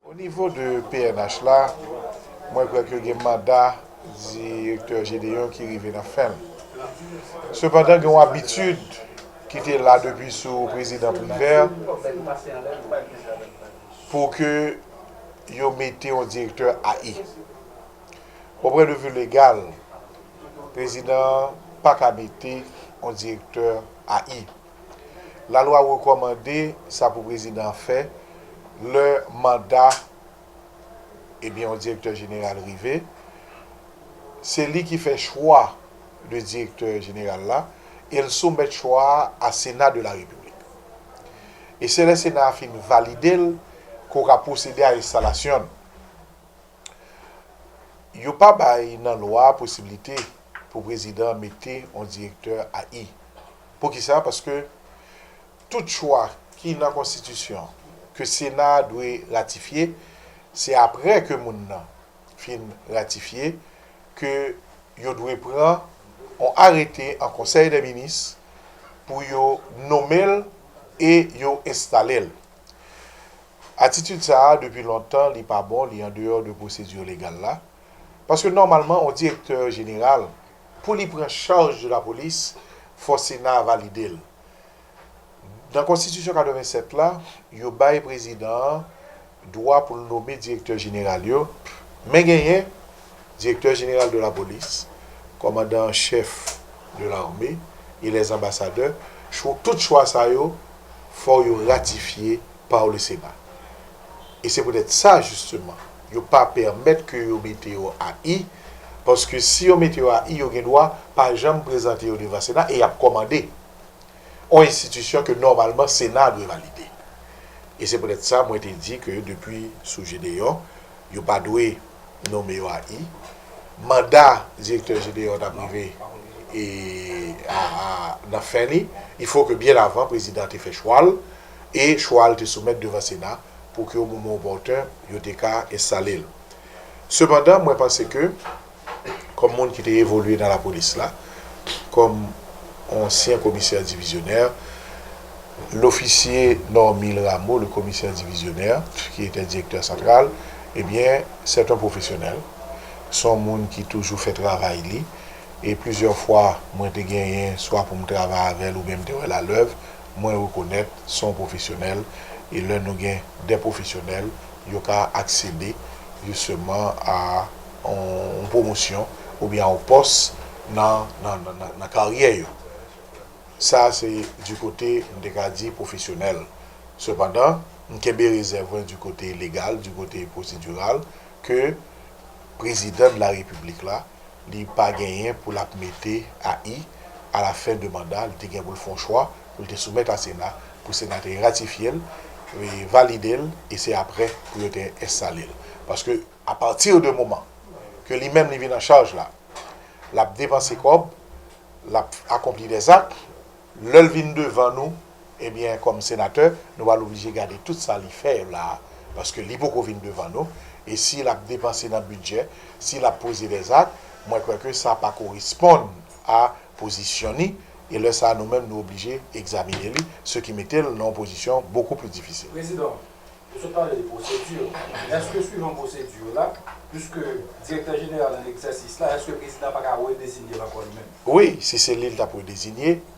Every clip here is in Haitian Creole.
O nivo de pnh la, mwen kwè ke gen manda Direktè Gédéon ki rive nan fen l. Sepandan gen yon abitid ki te la depi sou Prezidan Privert pou ke yo mete yon Direktè AI. O pwen de vi legal, Prezidan an pa ka mete yon Direktè AI. Lalwa rekòmande sa pou prezidan an fè lè manda ebyen yon direktè jeneral rive. Se li ki fè chwa de direktè jeneral la e l soumèt chwa a a Sena de la Repiblik. E se lè Sena a fin valide l ke w ka pwosede a enstalasyon l. Yo pa bay nan lwa a posiblite pou prezidan mete yon direktè AI. Poukisa? Paske tout chwa ki nan konstitisyon ke sena a dwe ratifye, se apre ke moun nan fin ratifye ke yo dwe pran on arete an konsèy dè minis pou yo nome l e yo enstale l. Atitid sa a depi lontan li pa bon, li andeyò de pwosedi legal la. Paske nòmalman on direktè jeneral, pou li pran chaj de lapolis, fò sena a valide l. Nan konstitisyon 87 la, yo bay prezidan an dwa pou l nome direktè jeneral yo, men genyen direktè jeneral de lapolis, kòmandan an chèf de lame e lè anbasadè, chwo, tout chwa sa yo fò yo ratifye pa w le sena. E se poutèt sa jisteman. Yo pa pèmèt ke yo mete yo a I, paske si yo mete yo a I, yo gen dwa pa janm prezante yo devan Sena e y ap kòmande. On enstitisyon ke nòmalman Sena a dwe valide. E se poutèt sa mwen te di ke depi sou Gedeon, yo pa dwe nome yo a I. Manda Direktè Gedeon t ap rive e a nan fen li. Il faut ke byen avan Prezidan te fè chwa l. e chwa l te soumèt devan Sena pou ke o moman opòtun yo te ka enstale l. Sepandan, mwen panse ke kòm moun ki te evolye nan lapolis la, kòm ansyen komisè divizyonè, lofisye Normil Rameau, le commissaire divisionnaire, ki etè direktè santral, ebyen, sèt on pwofesyonèl, s on moun ki toujou fè travay li, e plizyè fwa mwen te genyen swa pou m travay avè l oubyen m te wè l alèv, Mwen rekonèt son pwofesyonèl e lè nou gen de pwofesyonèl yo ka aksede jisteman a yon pwomosyon oubyen a yon pòs nan karyè yo. Sa se di kote m te ka di pwofesyonèl. Sepandan, m kenbe rezèv mwen di kote legal, di kote pwosediral ke Prezidan de la Repiblik la. li pa genyen pou l ap mete AI a la fen de manda, li te gen pou l fè yon chwa pou l te soumèt a Sena pou Sena te ratifye l, valide l e se aprè pou yo te enstale l. Paske apati de moman ke li menm li vin an chaj la, l ap depanse kòb, l ap akonpli dè zak, lè l vin devan nou Ebyen kòm senatè nou pral oblije gade tout sa li fè la paske li poko vin devan nou e si lap depanse nan bidjè si lap poze dè zak mwen kwè ke sa pa koresponn a pozisyon ni e lè sa nou menm nou oblije egzamine li se ki mete l nan yon pozisyon bokou pli difisil. Prezidan, ou sot pale de pwosedi yo, eske swivan pwosedi yo la, piske direktè jeneral an egzèsis la, eske prezidan pa ka redezinye l ankò li menm? Wi, si se li l tap redezinye,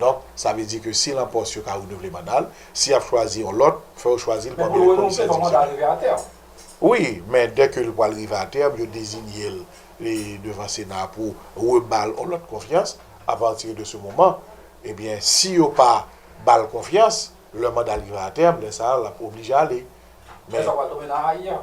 Donk, sa vle di ke si l an pòs yo ka renouvle manda l, si y ap chwazi yon lòt, fò yo chwazi l pami lè komisè divizyonèl. Wi, men dè ke l pwal rive a tèm, yo dezinye l devan sena a pou reba l yon lòt konfyans, apati de se moman, ebyen si yo pa ba l konfyans, lè manda l rive a tèm, lè sa a l ap oblije ale. Men sa pral tonbe nan AI an.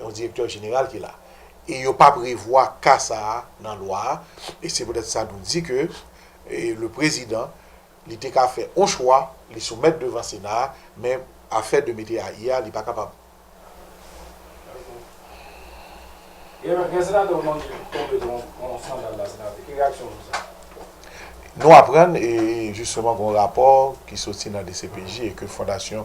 Yon direktè jeneral ki la. E yo pa prevwa ka sa a nan lwa a. E se poutèt sa nou di ke le prezidan li te ka fè yon chwa li soumèt devan sena a, men afè de mete AI a li pa kapab. Ebyen, gen senatè ou mande ki tonbe nan yon eskandal la senatè. Ki reyaksyon ou sou sa? Nou aprann e jisteman gen yon rapò ki soti nan dcpj e ke fondasyon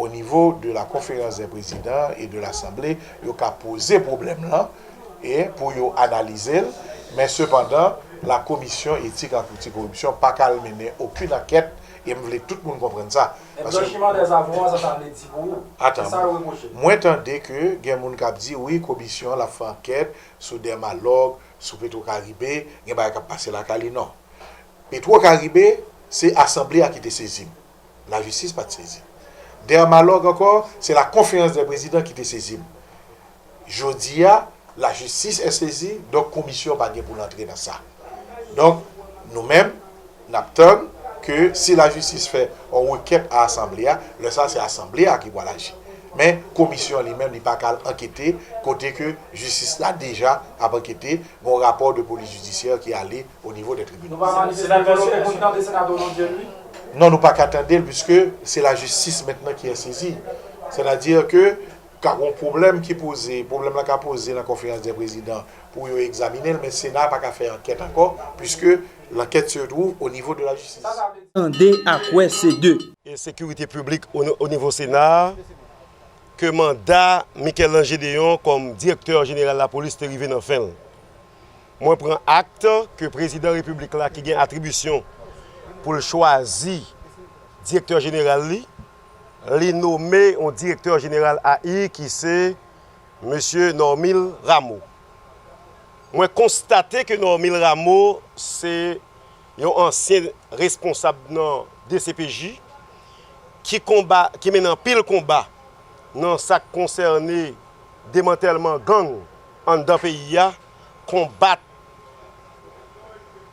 O nivo de la konferans dè prezidan e de lasanble, yo ka poze pwoblèm lan e pou yo analize l, men sepandan la komisyon etik ak oti koripsyon pa ka al mennen okin ankèt e m vle tout moun konprann sa. Men blanchiman dè avon an sa sa vle di pou ou? Se sa yo repwoche l. Mwen tande ke gen moun k ap di wi komisyon an l ap fè ankèt sou Dermalog, sou Petrocaribe, gen bagay k ap pase lakay li. Non. Petrocaribe se asanble a ki te sezi m. Lajistis pa t sezi. Dèmalòg ankò, se la konferans dè prezidan ki te sezi m. Jodi a, lajistis è sezi, donk komisyon pa gen pou l antre nan sa. Donk, nou menm, n ap tann ke si lajistis fè yon rekèt a asanble a, lè sa se asanble a ki pral aji. Men, komisyon li menm li pa ka al ankete kote ke jistis la deja ap ankete, gen yon rapò de polis jidisyè ki ale au niveau des tribunaux. Senatè Lopez pou n tande Senatè Onondieu l wi. Non nou paka tande l puiske se la jistis mentnan ki an sezi. Sètadi ke ka gon pwoblèm ki poze, pwoblèm lan ka poze nan konferans dè prezidan pou yo egzaminen l men sena a paka fè ankèt ankò puiske lankèt se twouv au niveau de la jistis. Tande ak wè se de. E sekirite piblik au niveau sena a ke manda Michel-Ange Deyon kòm direktè jeneral lapolis te rive nan fen l. Mwen pran akt ke Prezidan Repiblik la ki gen atribisyon pou l chwazi Direktè Jeneral li, li nome yon Direktè Jeneral AI ki se Mesye Normil Rameau. Mwen konstate ke Normil Rameau se yon ansyen responsab nan dcpj ki konba, ki mennen anpil konba nan sa k konsène demantèlman gang. anndan peyi a, konbat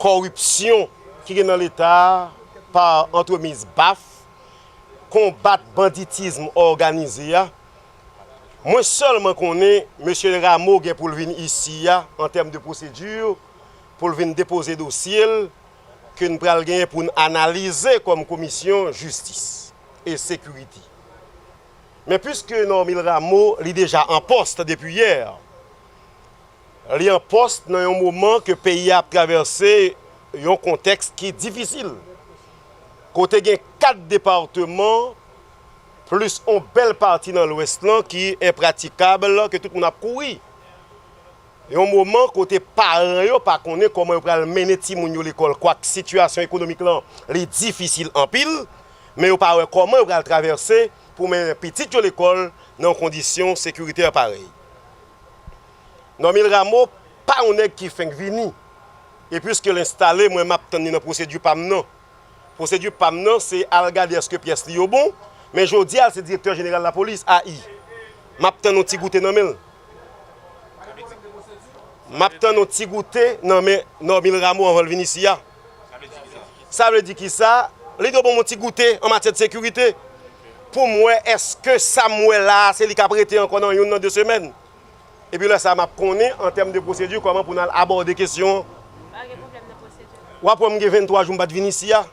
kòripsyon ki gen nan leta a pa antremiz baf, konbat banditism òganize a. Mwen sèlman konnen mesye Rameau gen pou l vin isi a an tèm de pwosedi pou l vin depoze dosye l ke n pral genyen pou n analize kòm komisyon jistis e sekirite. Men puiske Normil Rameau li deja an post depi yè, li an post nan yon moman ke peyi a ap travèse yon kontèks ki difisil, kote gen 4 departeman plis yon bèl pati nan lwès lan ki enpratikab, ke tout moun ap kouri. Yon moman kote paran yo pa konnen kòman yo pral mennen timoun yo lekòl kwak sitiyasyon ekonomik lan li difisil anpil, men yo pa wè kòman yo pral travèse pou mennen pitit yo lekòl nan yon kondisyon sekiritè parèy. Normil Rameau pa yon nèg ki fenk vini, e pwiske l enstale mwen map tann li nan pwosedi pa m nan. Pwosedi pa m nan se al gade èske pyès li yo bon, men jodi a l se direktè jeneral lapolis, AI. M ap tann yon ti goute nan men l. M ap tann yon ti goute nan men Normil Rameau anvan l vin isi a. Sa vle di ki sa? Li dwe ban m yon ti goute an matyè de sekirite pou m wè èske sa m wè la a se li k ap rete ankò nan youn nan de semèn. Epi lè sa a m ap konnen an tèm de pwosedi kòman pou n al abòde kesyon an. Pa gen pwoblèm nan pwosedi la. W ap wè m gen 23 jou m pa t vin isi a.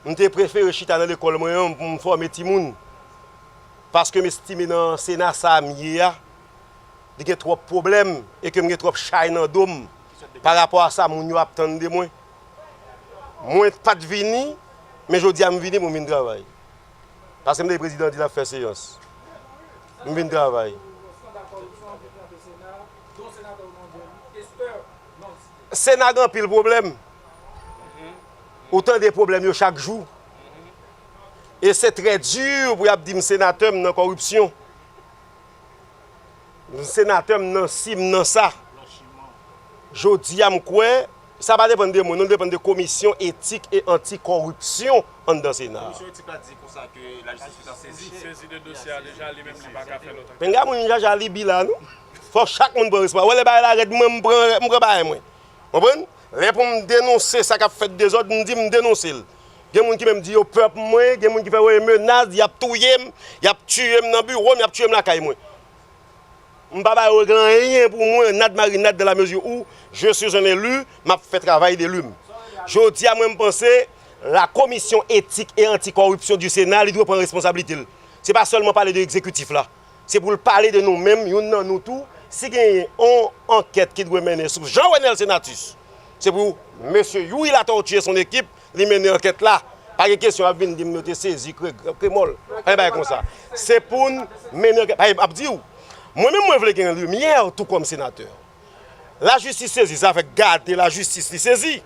M te prefere chita nan lekòl mwen an pou m fòme timoun. Paske m estime nan Sena sa a m ye a, li gen twòp pwoblèm e ke m gen twòp chay nan do m parapò a sa moun yo ap tann de mwen. Mwen pa t vini, men jodi a m vini pou m vin travay. Paskem tande prezidan di lap fè seyans m vin travay. Sena gen anpil pwoblèm. Ou tande pwoblèm yo chak jou. E se trè di pou yap dim senatè m nan kòripsyon. Senatè m nan si m nan sa. Jodi a m kwè Sa pa depann de mwen non li depann de komisyon etik e anti kòripsyon anndan sena a. Komisyon etik la di konsa ke lajistis li ta sezi. Sezi de dosye a deja li menm li pa ka fè lòt ankèt. Pinga moun jaja libi la non. Fòk chak moun pran respa. Wè lè bagay la rèd mwen m pran m pran bagay mwen. Konprann? Lè pou m denonse sa kap fèt dezòd m di m denonse l. Gen moun ki menm di yo pè pou mwen, gen moun ki fè yo e menas, yap touye m, yap tiye m nan biwo m, yap tiye m lakay mwen. M pa ba règle anyen pou mwen nad marinad dans la mesure où je suis un élu map fè travay d'elu m. Jodi a mwen m panse la commission éthique et anti corruption du Sénat li dwe pran responsablite l. Se pa sèlman pale de exekutif la. Se pou l pale de nou menm youn nan nou tou si genyen on ankèt ki dwe mennen sou Jean Renel Senatus se pou mesye Youri Latortue et son équipe li mennen ankèt la, pa gen kesyon ap vin di m yo te sezi kremòl, pa gen bagay konsa. Se pou n mennen ankèt. Paske m ap di w, mwen menm mwen vle gen limyè tou kòm senatè. Lajistis sezi, sa fè gade lajistis li sezi.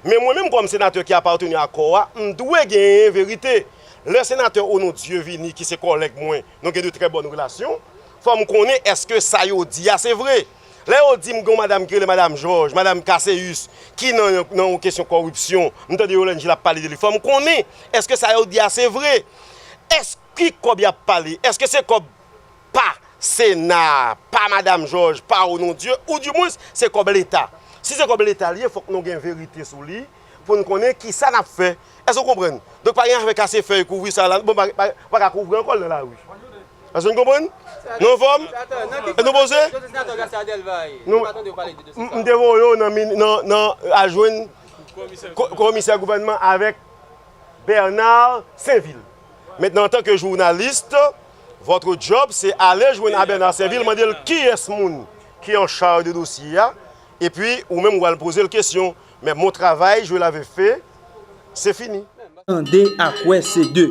Men mwen menm kòm senatè ki apateni a kò a, m dwe genyen verite. Lè senatè Onondieu vini ki se kòlèg mwen, nou gen de trè bòn relasyon, fò m konnen èske sa yo di a se vre. Lè yo di m gen yon madam ki rele madam Jòj, madam Kaseus, ki nan yon kesyon kòripsyon, m tande Yolande Gilles ap pale de li, fò m konnen, èske sa yo di a se vre? Èske, ki kòb y ap pale? Èske se kòb pa Sena a, pa madam Jòj, pa Onondieu, ou di mwens se kòb Leta? Si se kòb Leta li ye, fòk nou gen verite sou li pou n konnen ki sa n ap fè. Èske ou konprann? Donk pa gen afè kase fèy, kouvri sa la, bon, pa ka kouvri ankò l nan lari. Èske nou konprann? Nou anfòm? Èske nou poze? M te voye yo nan al jwenn komisè gouvènman avèk Bernard Sainvil. Mentnan antan ke journalist, votre job se ale jwenn a Bernard Sainvil mande l kiyès moun ki an charge de dosye a epi ou menm ou al poze l kesyon. Men bon travay Joel ave fe se fini. Tande ak wè se de.